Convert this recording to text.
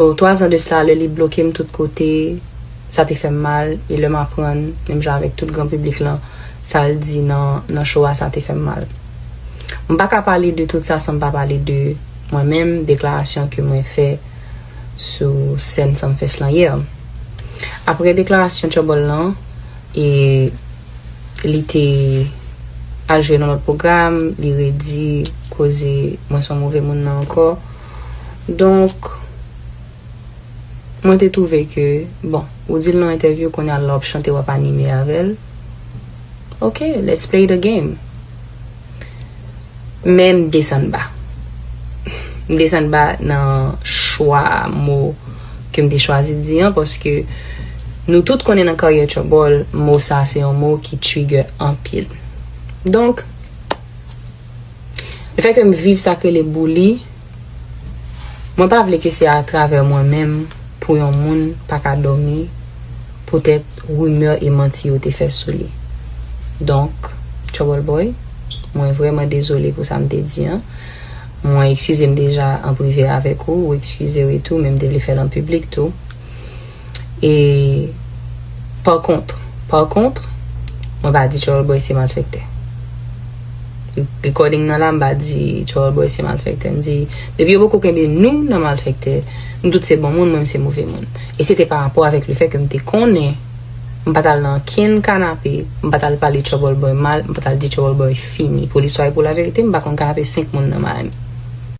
Oh, twazan de cela lè li bloke m tout kote, sa te fè m mal, e lè m aprann, menm jan avèk tout gran piblik lan, sa l di nan nan show a sa te fè m mal. M pa ka pale de tout sa san m pa pale de mwen menm, deklarasyon ke mwen fè sou sèn Sumfest lan yè. Aprè deklarasyon Trouble lan, e li te al jwe nan lòt pwogram, li redi koze mwen s on move moun nan ankò. Donk, mwen te twouve ke, bon, ou di l nan entèvyou, kounye a la w ap chante, w ap anime avè l. Ok, let's play the game. Men m desann ba. M desann ba nan chwa mo ke m te chwazi di an, paske nou tout konnen nan karyè Trouble, mo sa se yon mo ki trigger anpil. Donk. Le fè ke m viv sa k rele bouli, mwen pa vle ke se a travè mwen menm pou yon moun pa ka dòmi poutèt rimè e manti yo te fè sou li. Donk, Trouble Boy, mwen vrèman dezole pou sa m te di an. Mwen ekskize m deja an prive avèk ou, ou ekskize w etou, men m te vle fè l an piblik tou. E pa kontre, pa kontre, mwen pa di Charles Boy se malfektè. Recording nan la mba di Charles Boy se malfektè. M di, depi yo poko kenbe nou nan malfektè, nou tout se bon moun, mwen m se move moun. E se te pa rapò avèk le fè ke m te konnen, m pa tal nan kenn kanape, m pa tal pale Trouble Boy mal, m pa tal di Trouble Boy fini. Pou listwa e pou laverite, m pa konn kanape 5 moun nan Miami.